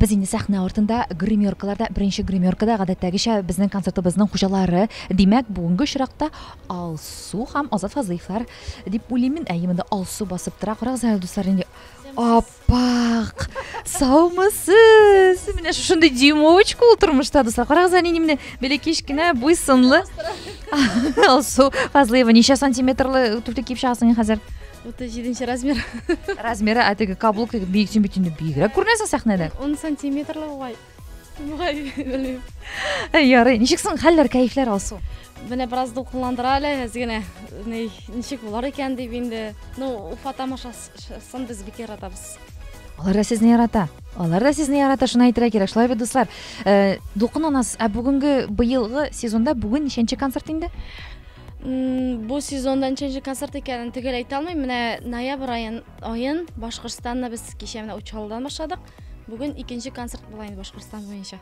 без инде сәхнә артында гримеркаларда беренче гримеркада гадәттәгечә безнең концертыбызның хуҗалары димәк бүгенге очракта алсу һәм азат фазыевлар дип уйлыйм мин әйе монда алсу басып тора карагыз әле дуслар инде ап Пак! Саумысыз! Менә шушындый дюймовочка ул тормышта, дуслар. Карагыз, әни менә бәләкәч кенә буй сынлы. Алсу Фазлыева, ничә сантиметрлы туфли киеп чыгасың хәзер? 37 размер. Размеры, ә теге каблук бик син бит инде бигрәк күренәсең сәхнәдә. 10 сантиметрлы угай. Ярый, ничек соң хәлләр, кәефләр алсу? Менә бераз дулкынландыра әле, әз генә ничек булар икән дип инде. Ну, Уфа тамашасын без бик яратабыз. Алар да сезне ярата. Алар да сезне ярата, шуны әйтергә кирәк. Шулай бит, дуслар. Э, Дулкынланасыз. Ә бүгенге быелгы сезонда бүген ничәнче концерт инде? бу сезонда ничәнче концерт икәнен төгәл әйтә алмыйм менә ноябрь аен аен башкортстанда без кичә менә учалдан башладык Бүген икенче концерт була инде Башкортстан буенча.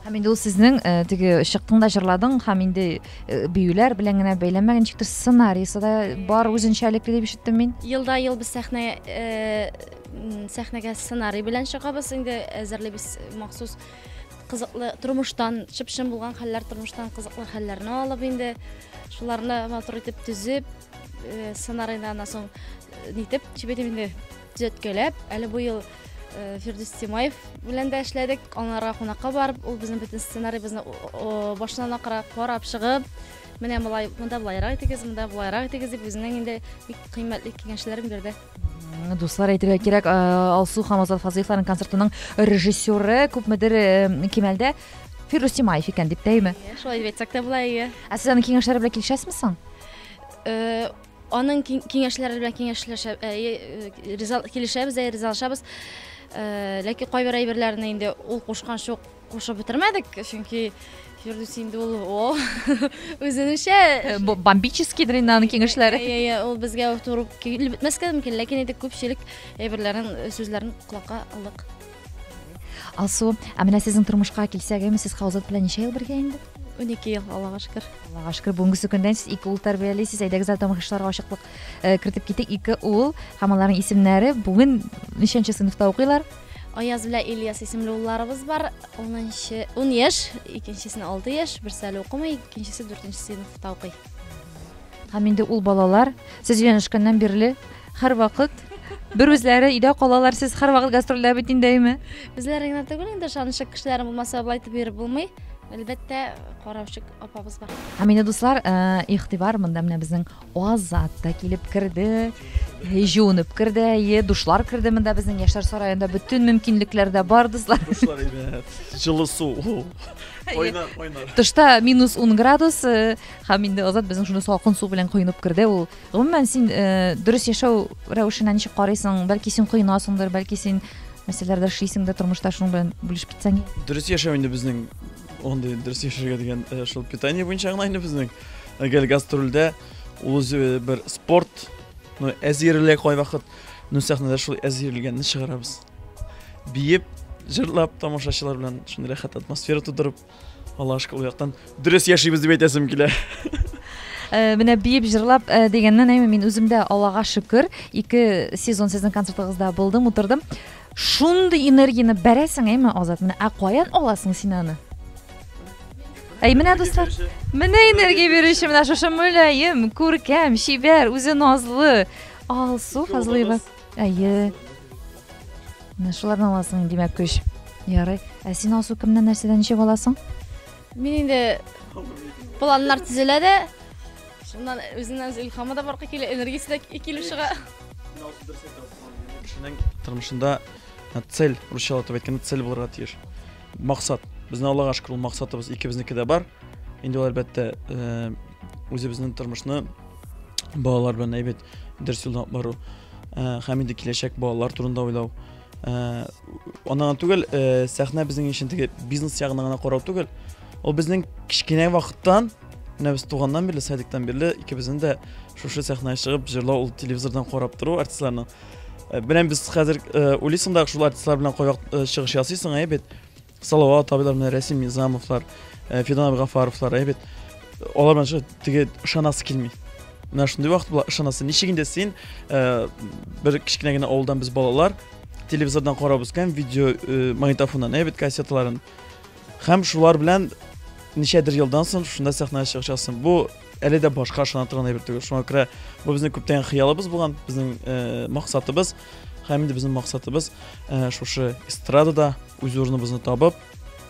Һәм инде ул сезнең э, теге чыктың да җырладың һәм инде э, биюләр белән генә бәйләнмәгән ничектер сценарийсы да бар үзенчәлекле дип ишеттем мин. Елда ел без сәхнә э, м, сәхнәгә сценарий белән чыгабыз инде әзерлибез махсус кызыклы тормыштан чып-чын булган хәлләр тормыштан кызыклы хәлләрне алып инде шуларны матур итеп төзеп э, сценарийны аннан соң э, нитеп чебедем инде Төзәткәләп, әле бу ел э, Фирдүс Тимаев белән дә эшләдек. Анарга кунакка барып, ул безнең бөтен сценарийбызны башыннан акыра карап чыгып, менә болай, монда болайрак итегез, монда болайрак итегез дип үзенең инде бик кыйммәтле киңәшләрен бирде. Дуслар әйтергә кирәк, э, Алсу һәм Азат Фазыевларның концертының режиссеры күпмедер э, кимәлдә Фирдүс Тимаев икән дип тәйме? Шулай дип әйтсәк тә була, әйе. Ә сез аның киңәшләре белән килешәсезме соң? Аның киңәшләре белән киңәшләшә, килешәбез, ризалашабыз. Ләкин кайбер әйберләрне инде ул кушкан шук кушып бетермәдек, чөнки Фирдүс инде ул о үзенчә э, бу бомбический дрин аның киңәшләре. Иә, иә, ул безгә турып килеп бетмәскә мөмкин, ләкин инде күпчелек әйберләрен, сүзләрен колакка алдык. Алсу, ә менә сезнең тормышка килсәк, әйме сез Хаузат белән ничә ел бергә инде? 12 ел, Аллага шөкер. Аллага шөкер, бүгенге көндән сез ике ул тәрбиялисез. Әйдәгез әле тамашачыларга ачыклык э, кертеп китик. Ике ул һәм аларның исемнәре бүген ничәнче сыйныфта укыйлар? Аяз белән Ильяс исемле улларыбыз бар. 10 10 яшь, икенчесенә 6 яшь, берсе әле укымый, икенчесе 4 сыйныфта укый. Һәм инде ул балалар сез өйләнешкәннән бирле һәрвакыт бер үзләре өйдә калалар, сез һәрвакыт гастрольдә бит инде, әйме? Безләр генә түгел инде, ышанычлы кешеләр булмаса, болай итеп йөреп булмый. Әлбәттә, караучы апабыз бар. Һәм инде дуслар, э, игътибар монда менә безнең Азат та килеп керде, э, җуынып керде, әйе, душлар керде монда безнең Яшьләр сараенда бөтен мөмкинлекләр дә бар, дуслар. Дуслар, әйе, җылы су. Кайнар, кайнар. Тышта минус 10 градус э, һәм инде Азат безнең шуны салкын су белән коенып керде. Ул гомумән син э, дөрес яшәү рәвешенә ничек карыйсың? Бәлки син коенасыңдыр, бәлки син мәсьәләләрдә эшлисең дә тормышта шуның белән бүлешеп китсәң. Дөрес яшәү инде безнең андый дөрес яшәргә дигән э, шул питание буенча гына инде безнең гел гастрольдә ул үзе бер спорт ну әзерле кайвакыт ну сәхнәдә шул әзерлегәнне чыгарабыз. Биеп, җырлап, тамашачылар белән шундый рәхәт атмосфера тудырып, Алла ашка ул яктан дөрес яшибез дип әйтәсем килә. Э, менә биеп җырлап э, дигәннән әйме мин үзем дә аллага шөкер ике сезон сезнең концертыгызда булдым утырдым шундый энергияне бәрәсең әйме азат менә ә каян аласың син аны әй менә дуслар менә энергия бирүче менә шушы мөлаем күркәм чибәр үзе назлы алсу фазлыева Әйе. Менә шуларны аласың, димәк, көч. Ярый. Ә син Алсу кемнән нәрсәдән ничек аласың? Мин инде планнар төзелә дә, шуннан үзеннән илһамы да баркы килә, энергиясе дә килеп чыга. Кешенең тормышында ә, цель, русча атап әйткәндә, цель булырга тиеш. Максат. Безнең Аллага шөкер, ул максатыбыз икебезнеке дә бар. Инде ул әлбәттә, э, үзебезнең тормышны балалар белән әйбәт дөрес юлдан алып бару ә, һәм инде киләчәк балалар турында уйлау ә, аннан түгел ә, сәхнә безнең өчен теге бизнес ягына гына карау түгел ул безнең кечкенә вакыттан менә без туганнан бирле садиктан бирле икебезнең дә шушы сәхнәгә чыгып җырлау ул телевизордан карап тору артистларны белән без хәзер уйлыйсың да шул артистлар белән кайвак чыгыш ясыйсың әй бит Салават абыйлар, менә Рәсим Низамовлар, э, Фидан Абгафаровлар, әйбәт. Алар менә шулай теге ышанасы килми. Менә шундый вакыт була ышанасы. Ничек инде син э, бер кечкенә генә авылдан без балалар телевизордан карабыз икән, видео э, магнитофоннан, әйбәт кассеталарын. Һәм шулар белән ничәдер елдан соң шунда сәхнәгә чыгачаксың. Бу әле дә башка ышана торган әйбер түгел. Шуңа күрә бу безнең күптән хыялыбыз булган, безнең э, максатыбыз. Һәм инде безнең максатыбыз э, шушы эстрадада үз урыныбызны табып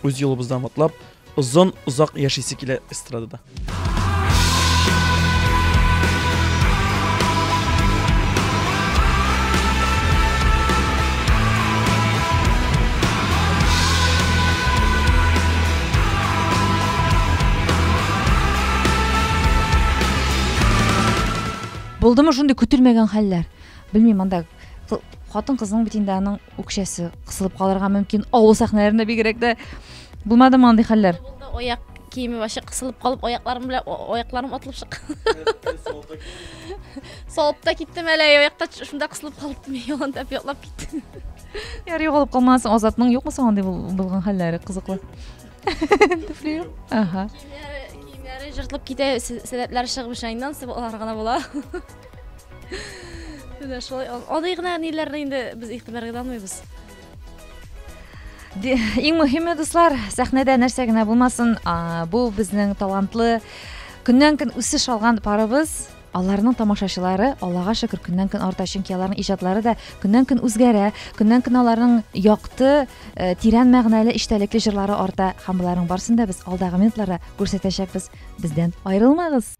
үз юлыбыздан атлап озын озак яшисе килә эстрадада Булдымы шундый көтелмәгән хәлләр? Белмим, анда хатын кызның бит инде аның үкчәсе кысылып калырга мөмкин авыл сәхнәләрендә бигрәк тә булмадымы андый хәлләр аяк киеме вообще кысылып калып аякларым белән аякларым атылып чыккан салып та киттем әле аякта шунда кысылып калып мин ялан тәп ятлап киттем яр югалып калмасын азатның юкмы соң андый булган хәлләре кызыклы туфли юк ага киемнәре жыртылып китә сәләтләре чыгып шайнан алар гына була Менә шулай андый гына ниләрне инде без игътибарга алмыйбыз. Иң мөһиме дуслар, сәхнәдә нәрсә генә булмасын, бу безнең талантлы көннән көн үсеш алган парыбыз аларның тамашачылары аллага шөкер көннән көн арта чөнки аларның иҗатлары да көннән көн үзгәрә көннән көн аларның якты э, тирән мәгънәле эчтәлекле җырлары арта һәм боларның барысын да без алдагы минутларда күрсәтәчәкбез бездән аерылмагыз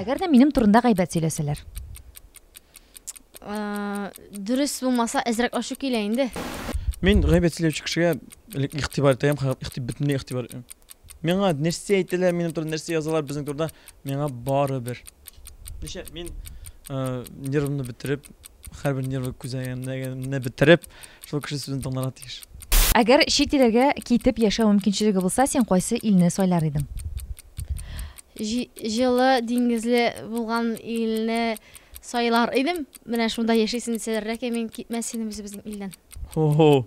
Әгәр дә минем турында гайбәт сөйләсәләр. Дөрес булмаса, әзрәк ачу килә инде. Мин гайбәт сөйләүче кешегә элек игътибар итәм, игътибар бөтенләй игътибар. Миңа нәрсә әйтәләр, минем турында нәрсә язалар безнең турында, миңа барыбер. Ничә мин нервымны бетереп, Хәрбер нервы күзәгәнне бетереп, шул кеше сүзен тыңларга тиеш. Әгәр чит илләргә китеп яшәү мөмкинчелеге булса, син кайсы илне сайлар идең? Җылы диңгезле булган илне сайлар идем. Менә шунда яшисен дисәләр, ләкин мин китмәс идем үзебезнең илдән. Һо-һо.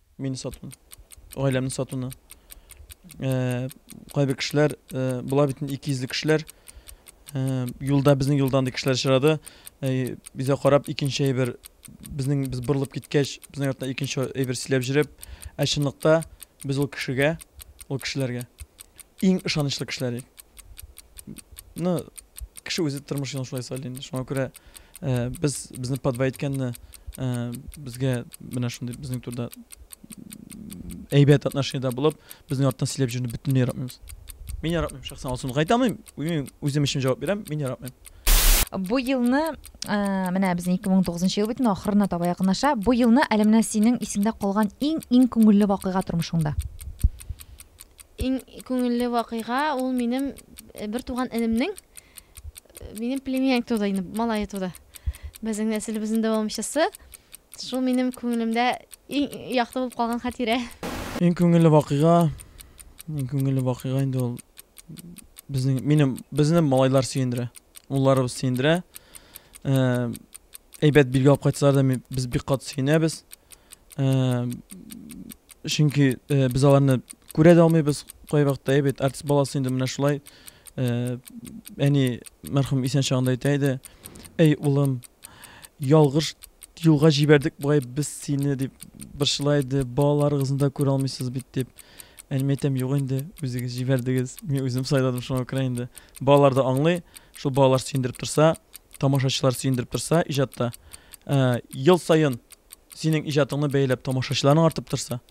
Мине сатуны. Гаиләмне сатуны. Э, кайбер кешеләр, э, була бит инде икейөзле кешеләр. Э, юлда безнең юлдан да кешеләр очрады. Э, Безгә карап икенче әйбер безнең без борылып киткәч, безнең яктан икенче әйбер сөйләп җөреп, ә чынлыкта без ул кешегә, ул кешеләргә иң ышанычлы кешеләр. идек. Ну, кеше үзе тормыш юлын шулай сайлый инде. Шуңа күрә Ә, без безне подва иткәнне ә, безгә менә шундый безнең турда әйбәт отношениедә булып, безнең арттан сөйләп җөрүне бөтенләй яратмыйбыз. Мин яратмыйм шәхсән алсын. Кайтамыйм, мин үзем өчен җавап бирәм, мин яратмыйм. Бу елны, ә, менә безнең 2009 ел бит инде ахырына таба якынлаша. Бу елны әле менә синең исеңдә калган иң-иң күңелле вакыйга тормышыңда. Иң күңелле вакыйга ул минем э, бер туган энемнең Минем племянник туда инде, малае туда. Безнең нәселебезнең дәвамчысы. Шул минем күңелемдә иң якты булып калган хатирә. Иң күңелле вакыйга, иң күңелле вакыйга инде ул безнең минем безне малайлар сөендерә. Улларыбыз сөендерә. Э, әйбәт билге алып кайтсалар да без бик кат сөенәбез. Э, чөнки э, без аларны күрә дә алмыйбыз. Кайвакытта әйбәт артист баласы инде менә шулай Э, әни мәрхүм исән чагында әйтә иде әй улым ялгыш юлга җибәрдек бугай без сине дип борчыла иде балаларыгызны да күрә алмыйсыз бит дип әниемә әйтәм юк инде үзегез җибәрдегез мин үзем сайладым шуңа күрә инде балалар да аңлый шул балалар сөендереп торса тамашачылар сөендереп торса иҗатта ә, ел саен синең иҗатыңны бәяләп тамашачыларың артып торса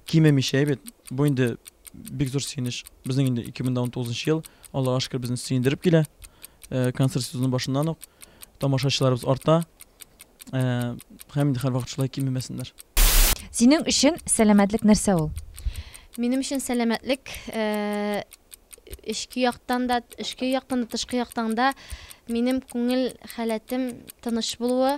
кимемичә бит бу инде Бик зур сөенеч. Безнең инде 2019 ел, Аллага шөкер, безне сөендереп килә. Э, концерт сезоны башыннан ук тамашачыларыбыз арта. Э, һәм инде һәрвакыт шулай кимемәсеннәр. Синең өчен сәламәтлек нәрсә ул? Минем өчен сәламәтлек э, эчке яктан да, эчке яктан да, тышкы яктан да минем күңел халәтем тыныч булуы,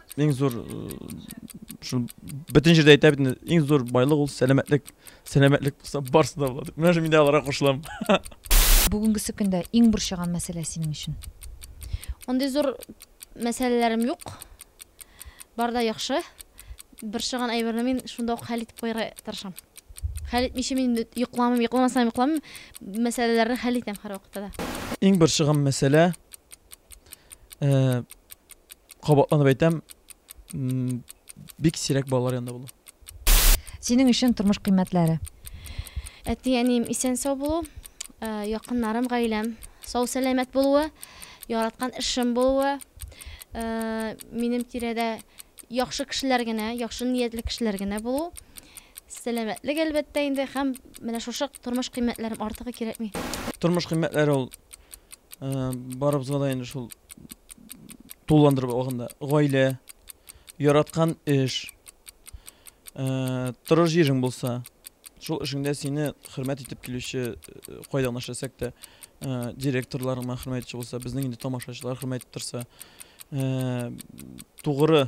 Иң зур шул бөтен җирдә әйтә бит иң зур байлык ул сәламәтлек. Сәламәтлек булса барсы да була. Менә шундый алара кушылам. Бүгенгесе көндә иң борчыган мәсьәлә синең өчен? Андый зур мәсьәләләрем юк. Бар да яхшы. Борчыган әйберне мин шунда ук хәл итеп куярга тырышам. Хәл итмичә мин йокламыйм, йокламасам йокламыйм. Мәсьәләләрне хәл итәм һәрвакытта да. Иң борчыган мәсьәлә э Кабатланып әйтәм, бик сирәк балалар янында булу. Синең өчен тормыш кыйммәтләре? Әти, әнием исән сау булу, э, якыннарым, гаиләм сау сәламәт булуы, яраткан эшем булуы, э, минем тирәдә яхшы кешеләр генә, яхшы ниятле кешеләр генә булу, сәламәтлек әлбәттә инде һәм менә шушы тормыш кыйммәтләрем артыгы кирәкми. Тормыш кыйммәтләре ул э, барыбызга да инде шул тулыландырып алганда гаилә яраткан эш ә, торыш җирең булса шул эшеңдә сине хөрмәт итеп килүче э, кайда гына эшләсәк тә ә, директорларыңа хөрмәт итүче булса безнең инде тамашачылар хөрмәт итеп торса ә, тугры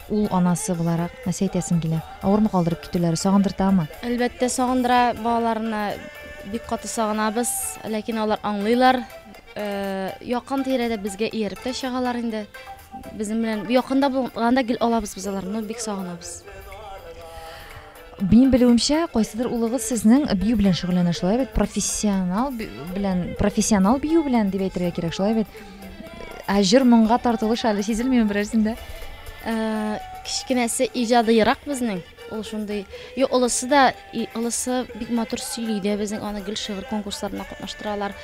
Ул анасы буларак, нәрсә әйтәсең килә? Авырмы калдырып китүләре, сагындыртамы? Әлбәттә, сагындыра. Балаларны бик каты сагынабыз, ләкин алар аңлыйлар. Якын-тирәдә безгә ияреп тә чыгалар инде. Безнең белән якында булганда гел алабыз без аларны, бик сагынабыз. Минем белүемчә, кайсыдыр улыгыз сезнең бию белән шөгыльләнә, шулай бит? Профессионал белән, профессионал бию белән дип әйтергә кирәк, шулай бит? Ә җыр моңга тартылыш әле сизелмиме берәрсендә? Э, кечкенәсе иҗадыйрак безнең ул шундый и олысы да и олысы бик матур сөйли дә безнең аны гел шигырь конкурсларына катнаштыралар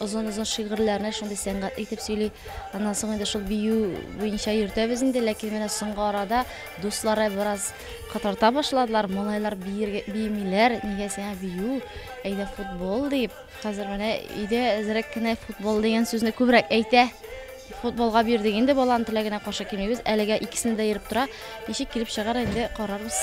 озын озын шигырьләрне шундый сәнгать итеп сөйли аннан соң инде шул бию буенча йөртәбез инде ләкин менә соңгы арада Дуслары бераз катарта башладылар, малайлар биергә биемиләр, нигә сиңа бию, әйдә футбол дип. Хәзер менә өйдә әзрәк кенә футбол дигән сүзне күбрәк әйтә. Футболга бирдек инде, баланың теләгенә каршы килмибез. Әлегә икесендә дә йөреп тора. Ничек килеп чыгар инде карарбыз.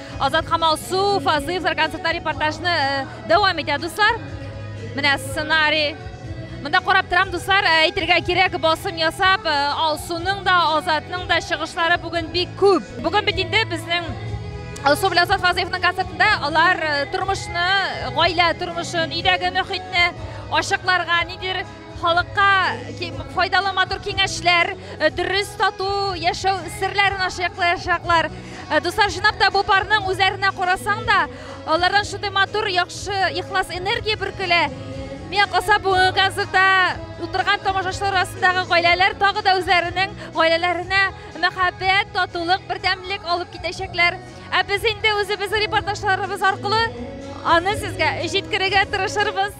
Азат һәм Алсу Фазыевлар концертта репортажны дәвам итә, дуслар. Менә сценарий. Монда карап торам, дуслар, әйтергә кирәк, басым ясап, Алсуның да, Азатның да чыгышлары бүген бик күп. Бүген бит инде безнең Алсу белән Азат Фазыевның концертында алар тормышны, гаилә тормышын, өйдәге мөхитне ачыкларга, нидер Халыкка файдалы матур киңәшләр, э, дөрес тату яшәү серләрен ачыклаячаклар. Э, дуслар, жинап та бу парның үзләренә карасаң да, алардан шундый матур, яхшы, ихлас энергия бөркелә. Миңа калса бүгенге концертта утырган тамашачылар арасындагы гаиләләр тагы да үзләренең гаиләләренә мәхәббәт, татулык, бердәмлек алып китәчәкләр. Ә без инде үзебезнең репортажларыбыз аркылы аны сезгә җиткерергә тырышырбыз.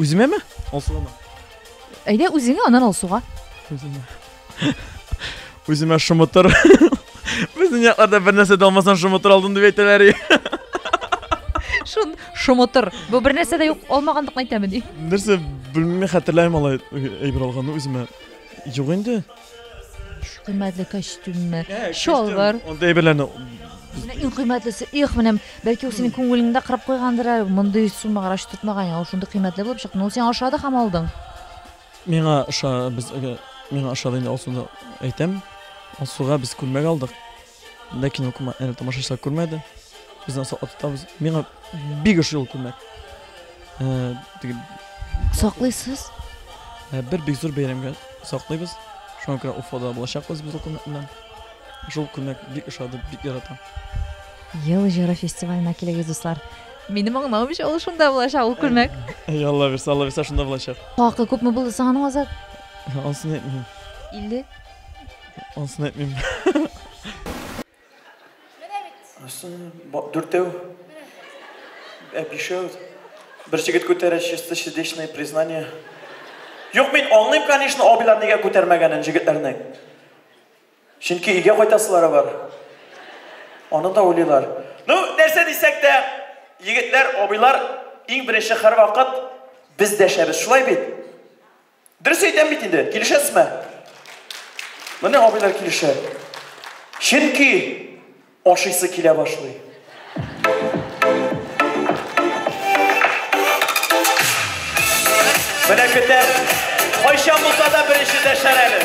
Үземәме? Алсугамы? Әйдә үзеңә, аннан Алсуга. Үземә. Үземә шымытыр. Безнең якларда бер нәрсә дә алмасаң шымытыр алдым дип әйтәләр. Шун шымытыр. Бу бер нәрсә дә юк, алмагандыкны әйтәме ди. Нәрсә белмим, хәтерләмим алай әйбер алганны үземә. Юк инде. Иһ, кыйммәтле костюммы, чалбар. Андый әйберләрне Менә иң кыйммәтлесе, их, менә бәлки ул синең күңелеңне дә кырып куйгандыр әле, мондый сумма гараш тотмаган ул шундый кыйммәтле булып чыкты. Ну, син ашады һәм алдың. Миңа ошады, без миңа ошады инде Алсуны әйтәм. Алсуга без күлмәк алдык. Монда кино күрмә, әле тамашачылар күрмәде. Без аны саклап тотабыз. Миңа бик ошый ул күлмәк. Ә, теге, Саклыйсыз? ә, бер бик зур бәйрәмгә саклыйбыз. Шуңа күрә Уфада булачакбыз без ул күлмәк белән. Шул күлмәк бик ошады, бик яратам. Ел җыры фестиваленә килегез, дуслар. Минем аңлавымча, ул шунда булачак, ул күлмәк. Әй, Алла бирсә, Алла бирсә, шунда булачак. Хакы күпме булды соң аның, Азат? Ансын әйтмим. 50? Онсын әйтмим. Менә бит. Онсын дүртәү. Ә бишәү. Бер җегет күтәрә чисто сердечное признание. Юк, мин аңлыйм, конечно, абыйлар нигә күтәрмәгәнен җегетләрнең. Чөнки өйгә кайтасылары бар. Аны да уйлыйлар. Ну, нәрсә дисәк тә, егетләр, абыйлар иң беренче һәрвакыт без дәшәбез. Шулай бит? Дөрес әйтәм бит инде, килешәсезме? Менә абыйлар килешә. Чөнки ашыйсы килә башлый. Менә көтәм. Кайчан булса да беренче дәшәр әле.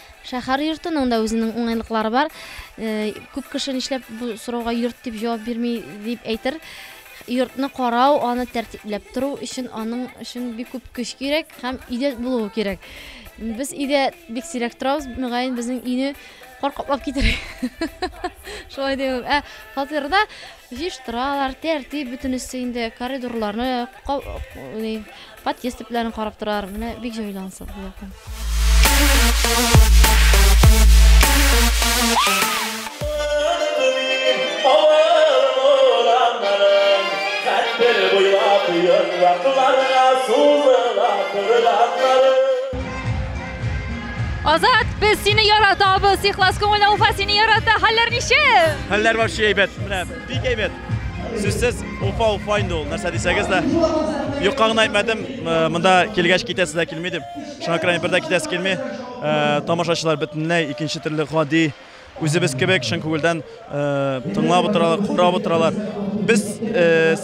Шәһәр йортының да үзенең уңайлыклары бар. Күп кеше нишләп бу сорауга йорт дип җавап бирми дип әйтер. Йортны карау, аны тәртипләп тору өчен аның өчен бик күп көч кирәк һәм өйдә булуы кирәк. Без өйдә бик сирәк торабыз, мөгаен безнең өйне кар каплап китер. Шулай димем. Ә фатирда җыештыралар, тәртип бөтенесе инде, коридорларны, Подъезд төпләрен карап торар. Менә бик җайлы ансат бу якта. Азат, без сине яратабыз, ихлас күңелле Уфа сине ярата. Хәлләр ничек? Хәлләр вообще әйбәт. Менә бик әйбәт. Сүзсез Уфа Уфа инде ул, нәрсә дисәгез дә. Юкка гына әйтмәдем, монда килгәч китәсе дә килми дип. Шуңа күрә бер дә китәсе килми. Тамашачылар бөтенләй икенче төрле гади үзебез кебек чын күңелдән тыңлап утыралар, карап утыралар. Без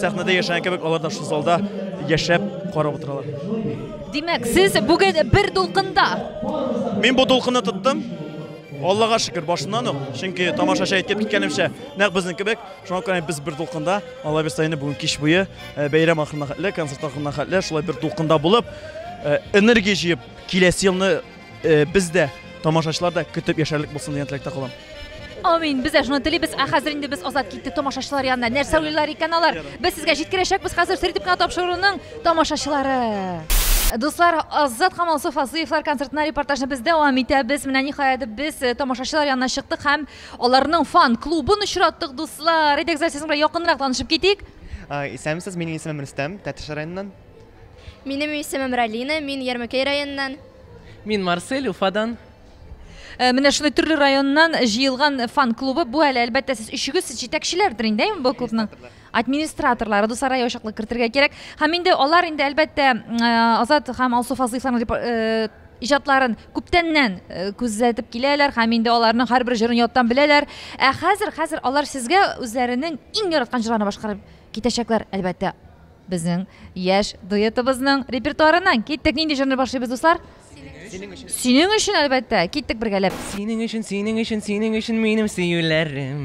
сәхнәдә яшәгән кебек алар да шул залда яшәп карап утыралар. Димәк, сез бүген бер дулкында? Мин бу дулкынны тоттым. Аллага шөкер, башыннан ук, чөнки тамашачы әйтеп киткәнемчә, нәкъ безнең кебек, шуңа күрә без бер дулкында, Алла бирса инде бүген кич буе, э, бәйрәм ахырына хәтле, концерт ахырына хәтле, шулай бер дулкында булып, э, энергия җыеп, киләсе елны э, без дә, тамашачылар да көтеп яшәрлек булсын дигән теләктә калам. Амин. Без дә шуны телибез. Ә хәзер инде без азат киттек тамашачылар янына. Нәрсә уйлар икән алар? Без сезгә җиткерәчәкбез хәзер Средибкана тапшыруның Тамашачылары! Дуслар, Азат Камалсов Асыевлар концертына репортажны без дәвам итәбез. Менә ниһаять без э, тамашачылар янына чыктык һәм аларның фан клубын очраттык, дуслар. Әйдәгез, әле сезнең белән якынрак танышып китик. А, Исәнмесез, минем исемем Рөстәм, Тәтеш районыннан. Минем исемем Ралина, мин Ярмәкәй районыннан. Мин Марсель, Уфадан. Э, Менә шундый төрле районнан җыелган фан клубы. Бу әле әлбәттә сез өчегез сез җитәкчеләрдер инде әйме бу клубның? администраторлары дусара ачыклык кертергә кирәк һәм инде алар инде әлбәттә азат һәм алсу фазлыевларның иҗатларын күптәннән күзәтеп киләләр һәм инде аларның һәрбер җырын яттан беләләр ә хәзер хәзер алар сезгә үзләренең иң яраткан җырларын башкарып китәчәкләр әлбәттә безнең яшь дуэтыбызның репертуарыннан киттек нинди җырны башлыйбыз дуслар синең өчен әлбәттә киттек бергәләп синең өчен синең өчен синең өчен минем сөюләрем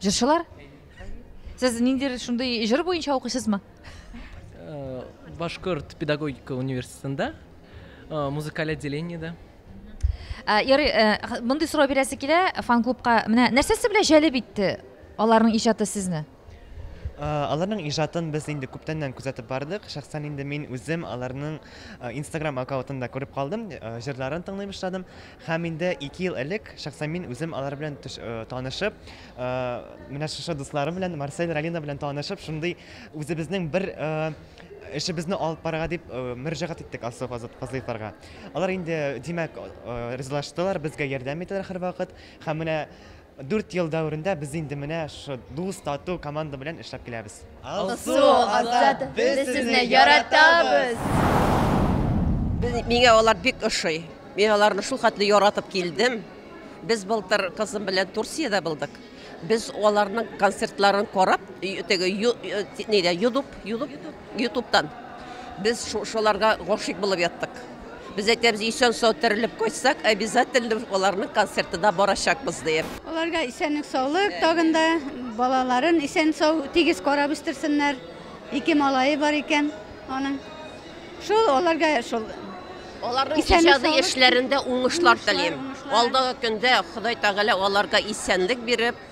Җырчылар? Сез ниндидер шундый җыр буенча укыйсызмы? Э, Башкорт педагогика университетында, э, музыкаль отделениедә. Э, ярый, мондый сорау бирәсе килә, фан-клубка менә нәрсәсе белән җәлеп итте аларның иҗаты сезне? Э, аларның ижатын без инде күптәннән күзәтеп бардык шәхсән инде мин үзем аларның э, инстаграм аккаунтында күреп калдым э, җырларын тыңлый башладым Һәм инде ике ел элек шәхсән мин үзем алар белән танышып, менә шушы дусларым белән, Марсель, Ралина белән танышып, шундый үзебезнең бер эшебезне алып барырга дип мөрәҗәгать иттек Алсу Фазлыевларга. Алар инде, димәк, ризалаштылар, безгә ярдәм итәләр һәрвакыт. Һәм менә Дүрт ел дәверендә без инде менә шушы дус, тату команда белән эшләп киләбез. Алсу, Азат, без сезне яратабыз! Без, миңа алар бик ошый. Мин аларны шул хәтле яратып килдем. Без былтыр кызым белән Турциядә булдык. Без аларның концертларын карап, теге ю, э, нидә, Ютуб, Ютуб, Ютубтан без шуларга гашыйк булып яттык. Без әйтәбез, исән-сау терелеп кайтсак, обязательно аларның концертына барачакбыз диеп. Аларга исәнлек-саулык тагын да, балаларын исән-сау, тигез карап үстерсеннәр. Ике малае бар икән аның. Шул аларга шул Аларның иҗади эшләрендә уңышлар телим. Алдагы көндә Ходай Тәгалә аларга исәнлек биреп,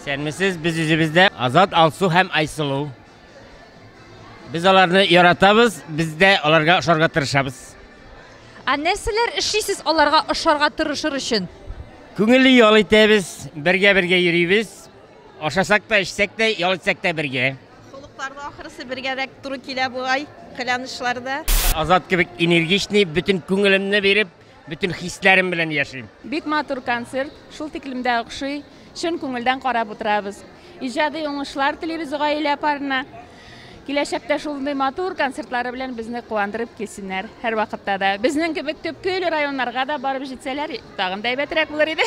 Исәнмесез, без үзебездә Азат, Алсу һәм Айсылу. Без аларны яратабыз, без дә аларга ошарга тырышабыз. Ә нәрсәләр эшлисез аларга ошарга тырышыр өчен? Күңелле ял итәбез, бергә-бергә йөрибез. Ашасак та, эчсәк тә, ял итсәк тә бергә. Холыкларда ахырысы бергәрәк туры килә бугай, кыланышларда. Азат кебек энергичный, бөтен күңелемне биреп, Бөтен хисләрем белән яшим. Бик матур концерт, шул тиклем дә охшый. Чын күңелдән карап утырабыз. Иҗади уңышлар телибез гаилә парына. Киләчәктә шундый матур концертлары белән безне куандырып килсеннәр. Һәрвакытта да. Безнең кебек төпкель районнарга да барып җитсәләр, тагын да әйбәтрәк булыр иде.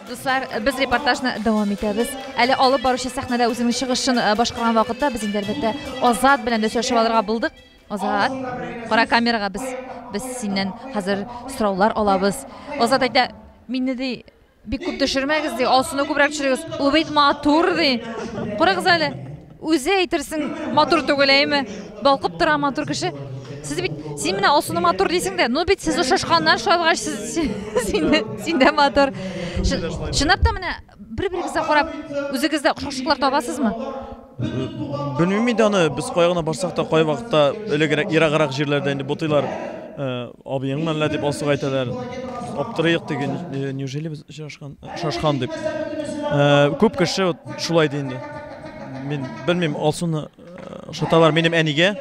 Дуслар, без репортажны дәвам итәбез. Әле алып баручы сәхнәдә үзенең чыгышын башкарган вакытта без инде әлбәттә Азат белән дә сөйләшеп алырга булдык. Азат, кара камерага без без синнән хәзер сораулар алабыз. Азат әйтә, мине ди бик күп төшермәгез ди, Алсуны күбрәк төшерегез. Ул бит матур ди. Карагыз әле. Үзе әйтерсең матур түгел, әйме? Балкып тора матур кеше. Сез бит, син менә Алсуны матур дисең дә, ну бит сез ошашканнар шалгач, сез син дә матур. Чынлап та менә бер-берегезгә карап, үзегездә охшашлыклар табасызмы? Белмим инде аны, без кая гына барсак та, кай вакытта элегрәк, ераграк җирләрдә инде бутыйлар. Э, Абыеңмы әллә дип Алсуга әйтәләр. Аптырыйк диген, э, неужели без Шашкан, шашкан дип. Э, күп кеше вот шулай ди инде. Мин белмим, Алсуны э, шаталар минем әнигә.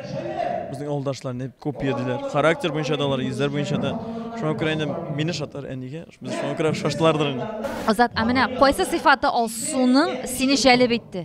Безнең авылдашлар не күп йөрдиләр. Характер буенча да алар, йөзләр буенча да. Шуңа күрә инде мине шатар әнигә. Без шуңа күрә шаштылардыр инде. Азат, ә менә кайсы сыйфаты Алсуның сине җәлеп итте?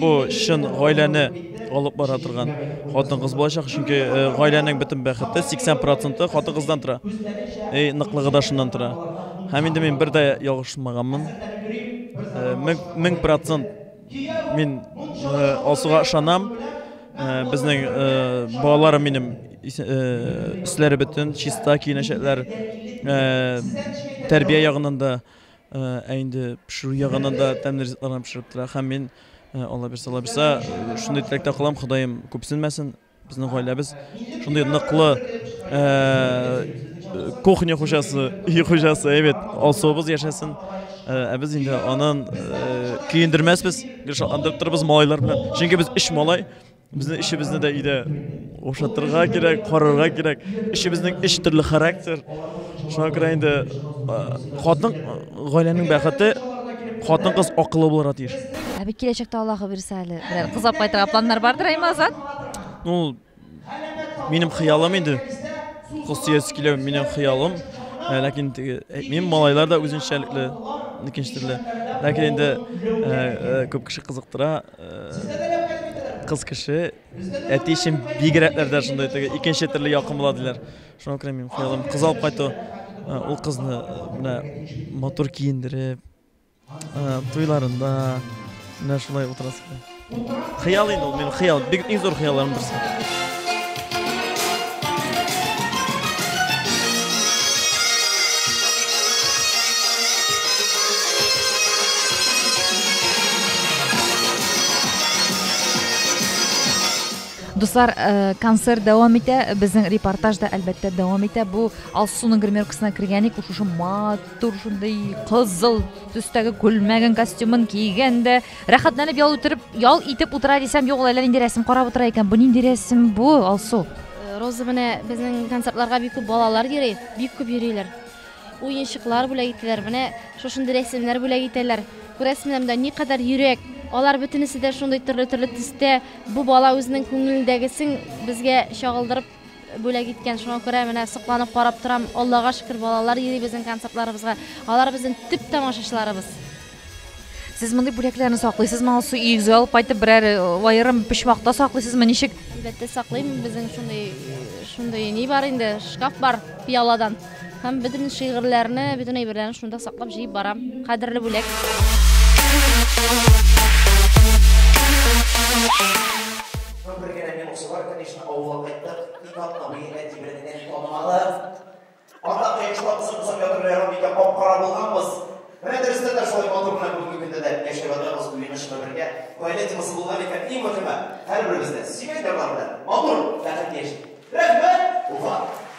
Бу чын гаиләне алып бара торган хатын-кыз булачак, чөнки э, гаиләнең бөтен бәхете 80 проценты хатын-кыздан тора. Эй, ныклыгы да шуннан тора. Һәм инде мин бер дә ялгышмаганмын. Э, мең, мең процент мин э, Алсуга ышанам. Э, безнең э, балаларым минем ис- э, өсләре бөтен, чиста киенәчәкләр. Э, тәрбия ягыннан да Ә инде пешерү ягыннан да тәмле ризыкларны пешереп тора. Һәм мин Алла бирсә, Алла бирсә, шундый теләктә калам, Ходаем күпсенмәсен. Безнең гаиләбез шундый ныклы кухня хуҗасы, үй хуҗасы, әйбәт, алсуыбыз яшәсен. Ә без инде анын көендермәсбез, гел шатландырып торабыз малайлар белән. Чөнки без өч малай, Безнең эшебезне дә иде ошатырга кирәк, карарга кирәк. Эшебезнең эш төрле характер. Шуңа күрә инде хатын гаиләнең бәхете хатын кыз акылы булырга тиеш. Ә бит киләчәктә Аллаһы бирсә әле берәр кыз алып кайтырга планнар бардыр әйме Азат? Ну, минем хыялым инде. Кыз сөясе килә, минем хыялым. Ә, ләкин теге әйтмим, малайлар да үзенчәлекле, икенче төрле. Ләкин инде күп кеше кызыктыра. Кыз кеше әти өчен бигрәк дә шундай теге икенче төрле якын була диләр. Шуңа күрә мин хыялым кыз алып кайту. Э, ул кызны э, менә матур киендереп, э, туйларында менә шулай утырасы. Хыял инде ул, минем хыял, бик иң зур хыялларым берсе. Дуслар, э, концерт дәвам итә. Безнең репортаж да әлбәттә дәвам итә. Бу Алсуның гримеркасына кергәник, шушы матур шундый кызыл төстәге күлмәген, костюмын кигән дә Рәхәтләнеп ял үтереп, ял итеп утыра дисәм, юк, ул әллә нинди рәсем карап утыра икән. Бу нинди рәсем бу, Алсу? Э, Роза менә безнең концертларга бик күп балалар йөри, бик күп йөриләр. Уенчыклар бүләк итәләр. Менә шушындый рәсемнәр бүләк итәләр. Күрәсезме, монда никадәр йөрәк. Алар бөтенесе дә шундый төрле-төрле төстә. Бу бала үзенең күңелендәгесен безгә чагылдырып Бүләк иткән, шуңа күрә менә сокланып карап торам. Аллага шөкер, балалар йөри безнең концертларыбызга. Алар безнең төп тамашачыларыбыз. Сез мондый бүләкләрне саклыйсызмы, алсу өегезгә алып кайтып берәр аерым почмакта саклыйсызмы, ничек? Әлбәттә саклыйм, безнең шундый шундый ни бар инде, шкаф бар пиаладан. Һәм бөтен шигырьләрне, бөтен әйберләрне шунда саклап җыеп барам. Кадерле бүләк. Авылга кайттык, ник атламый, әти белән әни танымады. Анда кыйшта кысып-кысып ятырга бик тә кап-кара булганбыз. Менә дөрестән дә шулай матур гына бүгенге көндә дә яшәп ятабыз, уены-чыны бергә. Гаилә темасы булган икән, иң мөһиме, һәрберебез дә сөйгән ярлар белән матур, бәхетле яшик! Рәхмәт, Уфа!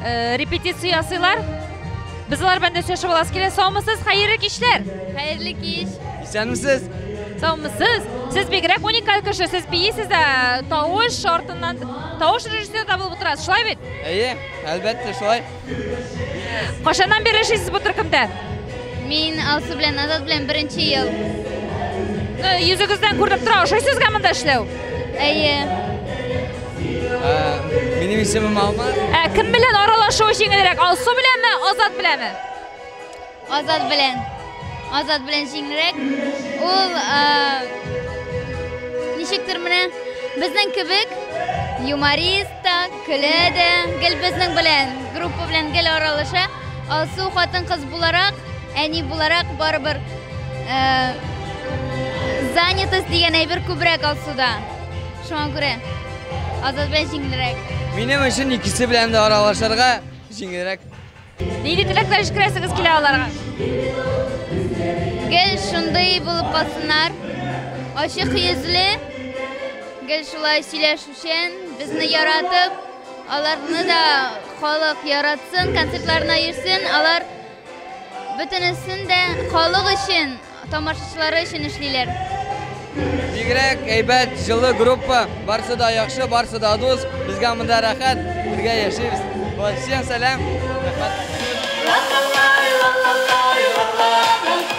Э, репетиция ясыйлар. Без алар белән дә сөйләшеп аласы килә. Саумысыз, хәерле кичләр. Хәерле кич. Исәнмесез. Саумысыз. Сез бигрәк уникаль кеше. Сез бийсез дә тавыш шартыннан тавыш режиссер да булып утырасыз. Шулай бит? Әйе, әлбәттә шулай. Кашаннан бері эшлейсіз бұл түркімді? Мин Алсу белән Азат белән беренче ел. Ну, йөзегездән күренеп тора, ошыйсызга монда эшләү? Әйе. Ә, минем исемем Алмаз. Ә кем белән аралашу җиңелрәк? Алсу беләнме, Азат беләнме? Азат белән. Азат белән җиңелрәк. Ул ә, ничектер менә безнең кебек юморист та, көлә дә, гел безнең белән, группа белән гел аралаша. Алсу хатын кыз буларак, әни буларак барыбер э, занятость дигән әйбер күбрәк Алсуда. Шуңа күрә Азат белән җиңелрәк. Минем өчен икесе белән дә аралашырга җиңелрәк. Нинди теләкләр җиткерәсегез килә аларга? Гел шундый булып калсыннар. Ачык йөзле, гел шулай сөйләшүчән, безне яратып, Аларны да халык яратсын, концертларына йөрсен. Алар бөтенесен дә халык өчен, тамашачылары өчен эшлиләр. Бигрәк әйбәт, җылы группа. Барсы да яхшы, барсы да дус. Безгә монда рәхәт, бергә яшибез. Вот, всем сәлам. Рәхмәт.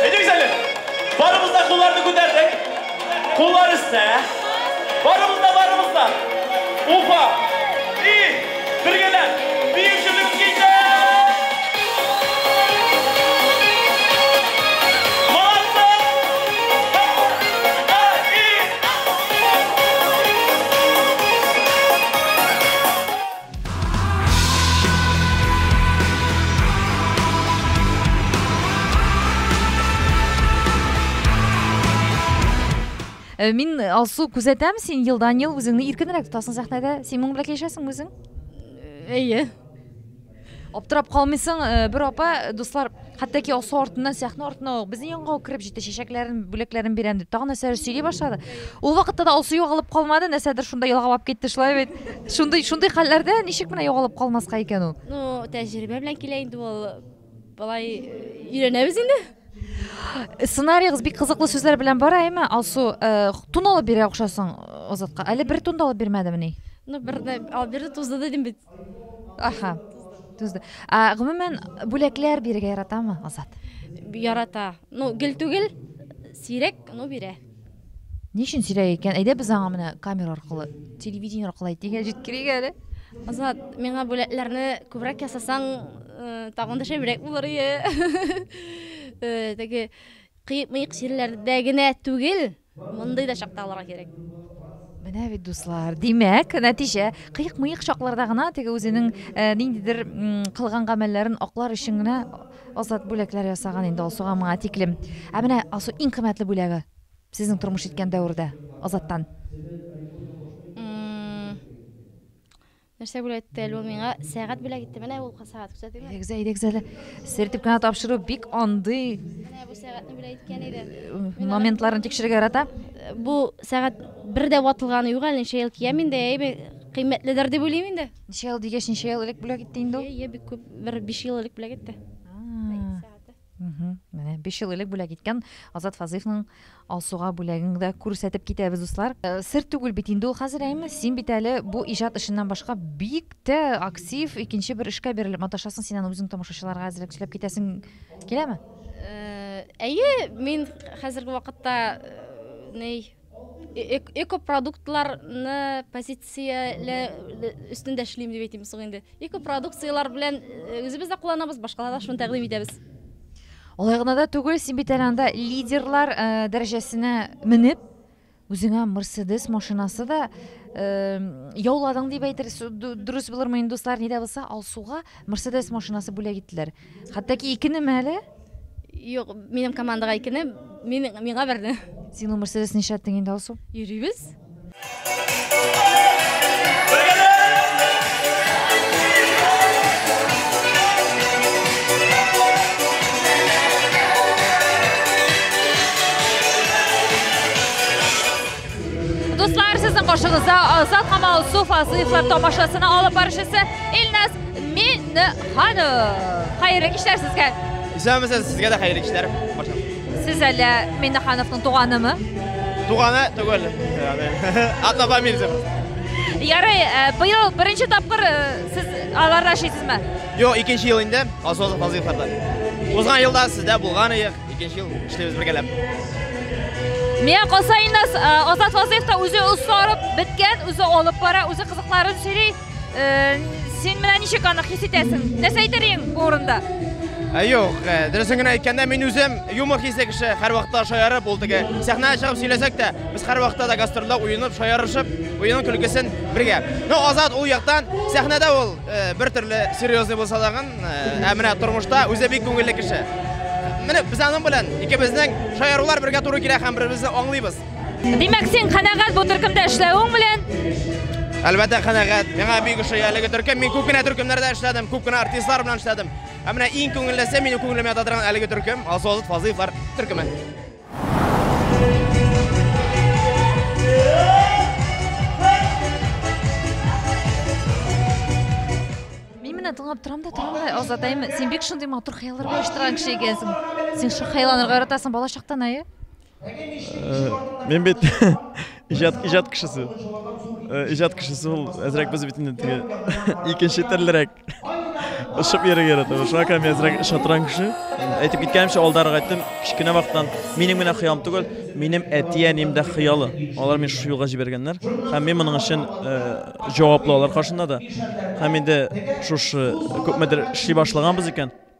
Әйдәгез әле! Барыбыз да кулларны күтәрдек. Куллар өстә. Барыбыз да, барыбыз да. Уфа! И! Бергәләп! Бию җирлегебез китә! Э, мин э, алсу күзәтәм син елдан ел үзеңне иркенрәк тотасың сәхнәдә син моның белән килешәсеңме үзең э, әйе аптырап калмыйсың бер апа дуслар Хәтта ки алсу артыннан сәхнә артына ук безнең янга ук кереп җитте, чәчәкләрен, бүләкләрен бирәм дип, тагын нәрсәләр сөйли башлады. Ул вакытта да алсу югалып калмады, нәрсәдер шунда елгалап китте, шулай бит. Шундый, шундый хәлләрдә ничек менә югалып калмаска икән ул? Ну, тәҗрибә белән килә инде ул. Болай өйрәнәбез инде. Сценариегыз бик кызыклы сүзләр белән бара, әйме, Алсу, э, тун алып бирә охшасың Азатка. Әле бер тун да алып бирмәдемени? Ну, бер дә алып бирде, тузды дидем бит. Аха. Тузды. А, гомумән, бүләкләр бирергә яратамы Азат? Ярата. Ну, гел түгел, сирәк, ну, бирә. Ни өчен сирәк икән? Әйдә без аңа менә камера аркылы, телевидение аркылы әйтик, җиткерик әле. Азат, миңа бүләкләрне күбрәк ясасаң, э, тагын да шәбрәк булыр ие. Э, Теге кыек-мыек җирләрдә генә түгел, Мондый да чакта алырга кирәк. Менә бит, дуслар, димәк, нәтиҗә. Кыек-мыек чакларда гына теге үзенең э, ниндидер кылган гамәлләрен аклар өчен генә Азат бүләкләр ясаган инде Алсуга моңа тиклем. Ә менә Алсу иң кыйммәтле бүләге сезнең тормыш иткән дәвердә Азаттан. Нәрсә бүләк итте әле ул миңа? Сәгать бүләк итте. Менә ул сәгать күрсәтим. Әйдәгез, әйдәгез әле. Сертеп кенә тапшыру бик андый. Менә бу сәгатьне бүләк иткән иде. Э, моментларын тикшерергә ярата. Э, бу сәгать бер дә ватылганы юк әле, ничә ел киям инде, әйбе кыйммәтледер дип уйлыйм инде. Ничә ел дигәч, ничә ел элек бүләк итте инде ул? Е, бик күп, бер 5 ел элек бүләк итте. Менә 5 ел элек бүләк иткән Азат Фазыйфның Алсуга бүләген дә күрсәтеп китәбез, дуслар. Э, сер түгел бит инде ул хәзер, әйме? Син бит әле бу иҗат эшеннән башка бик тә актив икенче бер эшкә бирелеп маташасың. Син аны үзең тамашачыларга әзерләп сөйләп китәсең киләме? Э, әйе, мин хәзерге вакытта э, ней Экопродуктларны позицияләү өстендә эшлим дип әйтим соң инде. Экопродукцияләр белән үзебез дә кулланабыз, башкаларга да шуны тәкъдим итәбез. Алай гына да түгел, син бит әле анда лидерлар дәрәҗәсенә менеп, үзеңә Мерседес машинасы да яуладың дип әйтергә дөрес булырмы инде, дуслар, ни дә булса, Алсуга Мерседес машинасы бүләк иттеләр. Хәтта ки икенеме әле? Юк, минем командага икене, мин, миңа берне. Син ул Мерседес нишләттең инде, Алсу? Йөрибез. Дуслар, сезнең каршыгызда Азат һәм Алсу Фазлыевлар тамашасына алып барышысы Илназ Миннеханов. Хәерле кичләр сезгә. Исәнмесез, сезгә дә хәерле кичләр. Сез әле Миннехановның туганымы? Туганы түгел. Однофамильцев. Ярый, э, быел беренче тапкыр э, сез аларда эшлисезме? Юк, икенче ел инде, Асозов Азыйфарда. Узган елда сездә булган идек, икенче ел эшлибез бергәләп. Мия Косайнас Азат Вазыев та үзе осларып беткән, үзе алып бара, үзе кызыкларын сөйли. Син менә ничек аны хис итәсең? Нәрсә әйтер идең бу урында? Ә юк, дөресен генә әйткәндә, мин үзем юмор хисле кеше, һәрвакытта шаярып, ул теге сәхнәгә чыгып сөйләсәк тә, без һәрвакытта да гастрольдә уенып, шаярышып, уенын көлкесен бергә. Ну, Азат ул яктан сәхнәдә ул бер төрле серьезный булса дагын, ә менә тормышта үзе бик күңелле кеше. Менә без аның белән икебезнең шаярулар бергә туры килә һәм бер-беребезне аңлыйбыз. Димәк, син канәгать бу төркемдә эшләвең белән? Әлбәттә канәгать. Миңа бик ошый әлеге төркем. Мин күп кенә төркемнәрдә эшләдем, күп кенә артистлар белән эшләдем. Ә менә иң күңеллесе минем күңелемә ята торган әлеге төркем, Азолот Фазыевлар төркеме. Мин менә тыңлап торам да торам да, Азатайым, син бик шундый матур хыялларга оештырган кеше икәнсең. Син шундый хыялланырга яратасың балачактан, әйе? Мин бит иҗат иҗат кешесе. Иҗат кешесе ул әзрәк без бит инде теге икенче төрлерәк. Ышып йөрергә ярата. Шуңа күрә мин әзрәк шатран кеше. Әйтеп киткәнемчә, алдарак әйттем, кечкенә вакыттан минем генә хыялым түгел, минем әти-әнием дә хыялы. Алар мине шушы юлга җибәргәннәр. Һәм мин моның өчен җаваплы алар каршында да. Һәм инде шушы күпмедер эшли башлаганбыз икән,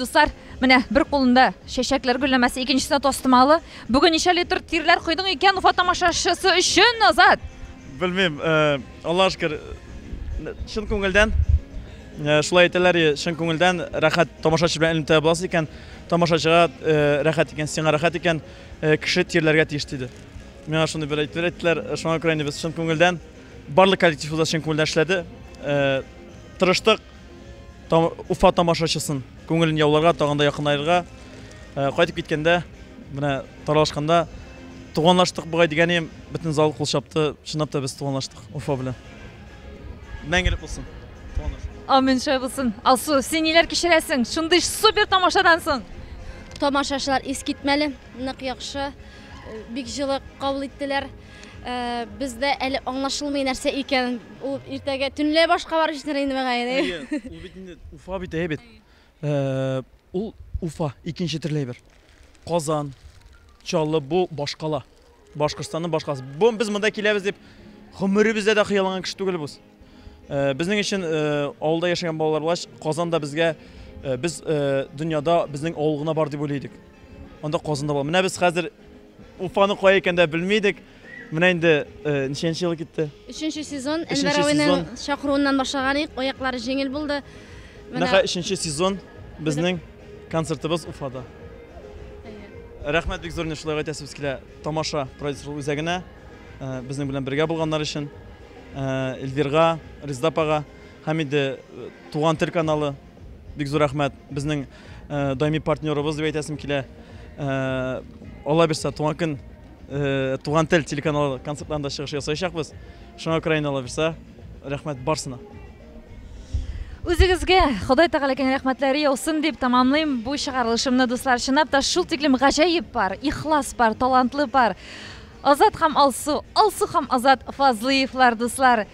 Дуслар, менә бер кулында чәчәкләр гөлләмәсе, икенчесендә тастымалы. Бүген ничә литр тирләр койдың икән Уфа тамашачысы өчен, Азат? Белмим, э, Аллаһ шкер, э, чын күңелдән э, шулай әйтәләр, и, чын күңелдән рәхәт тамашачы белән элемтә буласы икән, тамашачыга э, рәхәт икән, сиңа рәхәт икән, э, кеше тирләргә тиеш диде. Миңа шуны бер әйтер әйттеләр, шуңа күрә инде без чын күңелдән, барлык коллектив үзә чын күңелдән эшләде. Э, тырыштык Уфа тамашачысын күңелен яуларга, тагын да якынлаерга. Э, кайтып киткәндә, менә таралышканда туганлаштык бугай дигәнем, бөтен зал кул чапты. Чынлап та без туганлаштык Уфа белән. Мәңгелек булсын. Амин шулай булсын. Алсу, син ниләр кичерәсең? Шундый супер тамашадан соң. Тамашачылар искитмәле, нык яхшы. Бик җылы кабул иттеләр. Бездә әле аңлашылмый нәрсә икән. Ул иртәгә төнлә башка барып җитәр инде мәгаен. Ул бит инде Уфа бит, әйе бит. Ул Уфа, икенче төрле әйбер. Казан, Чаллы бу башкала. Башкортстанның башкаласы. Бу без монда киләбез дип гомеребездә дә хыялланган кеше түгел без. Э, безнең өчен э, авылда яшәгән балалар булгач казанда безгә э, без дөньяда безнең авыл гына бар дип уйлыйдык анда казанда бар менә без хәзер уфаны кая икән дә белми идек менә инде ничәнче ел китте өченче сезон әнвәр абыйның чакыруыннан башлаган идек аяклары җиңел булды менә өченче сезон безнең концертыбыз уфада рәхмәт бик зур шулай әйтәсебез килә тамаша продюсерлык үзәгенә безнең белән бергә булганнар өчен Эльвирга, Резда апага һәм инде Туган тел каналы бик зур рәхмәт. Безнең даими партнерыбыз дип әйтәсем килә. Алла бирсә, туган көн Туган тел телеканалы концертларында чыгыш ясаячакбыз. Шуңа күрә инде Алла бирсә, рәхмәт барсына. Үзегезгә Ходай Тәгалә киң рәхмәтләре яусын дип тәмамлыйм бу чыгарылышымны, дуслар. Чынлап та шул тиклем гаҗәеп пар, ихлас пар, талантлы пар. Азат һәм Алсу, Алсу һәм Азат Фазлыевлар дуслар.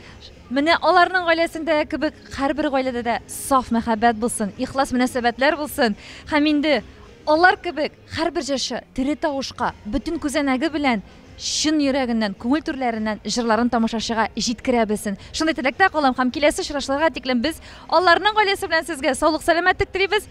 Менә аларның гаиләсендә кебек һәрбер гаиләдә дә саф мәхәббәт булсын, ихлас мөнәсәбәтләр булсын. Һәм инде алар кебек һәрбер җырчы тере тавышка, бөтен күзәнәге белән чын йөрәгеннән, күңел түрләреннән җырларын тамашачыга җиткерә белсен. Шундый теләктә калам һәм киләсе очрашуларга тиклем без аларның гаиләсе белән сезгә саулык-сәламәтлек телибез.